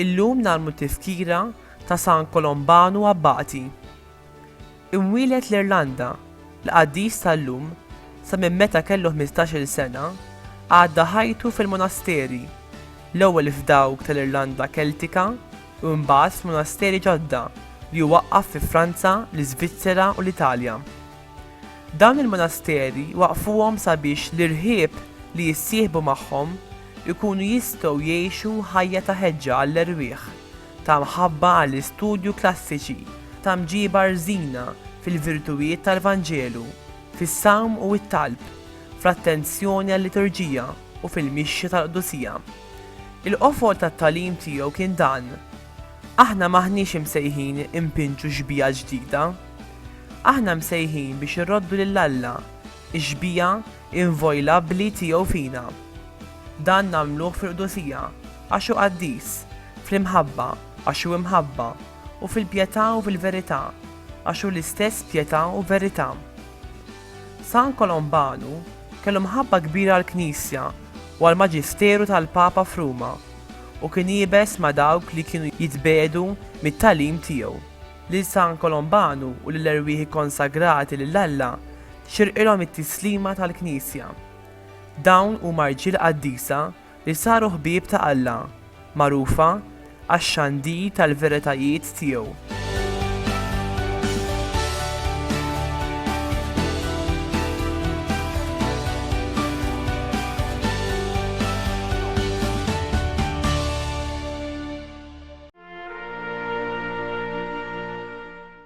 Illum nagħmlu tifkira ta' San Kolombanu Abbati, Imwieled l-Irlanda, l-qaddis tal-lum, sa minn meta kellu ħmistax-il sena, għadda ħajtu fil-monasteri, l-ewwel f'dawk tal-Irlanda Keltika u mbagħad f'monasteri ġodda li hu waqqaf fi Franza, l-Iżvizzera u l-Italja. Dawn il-monasteri waqqfuhom sabiex l-irħieb li jissieħbu magħhom ikunu jistgħu jgħixu ħajja ta' ħeġġa għall-erwieħ, Ta' mħabba għall-istudju klassiċi, ta' mġiba rżina fil-virtuwiet tal-Vanġelu, fis-sawm u t-talb, fl-attenzjoni għal-liturġija u fil-mixja tal-qdusija. Il-qofol tat-tagħlim tiegħu kien dan, Aħna m'aħniex imsejħin inpinġu xbieha ġdida. Aħna msejħin biex irroddu lil Alla, ix-xbieha invojlabbli tiegħu fina. Dan nagħmluh fil-qdusija, għax hu qaddis, fl-imħabba, għax hu imħabba, u fil-pjetà u fil-verità, għax hu l-istess pjetà u verità. San Kolombanu kellu mħabba kbira għall-Knisja u għall-maġisteru tal-Papa f'Ruma, u kien iebes ma' dawk li kienu jitbegħdu mit-tagħlim tiegħu. Lil San Kolombanu u lill-erwieħ ikkonsagrati lil Alla xirqilhom it-tislima tal-Knisja. Dawn huma rġiel qaddisa li saru ħbieb ta' Alla, magħrufa għax-xandir tal-veritajiet tiegħu.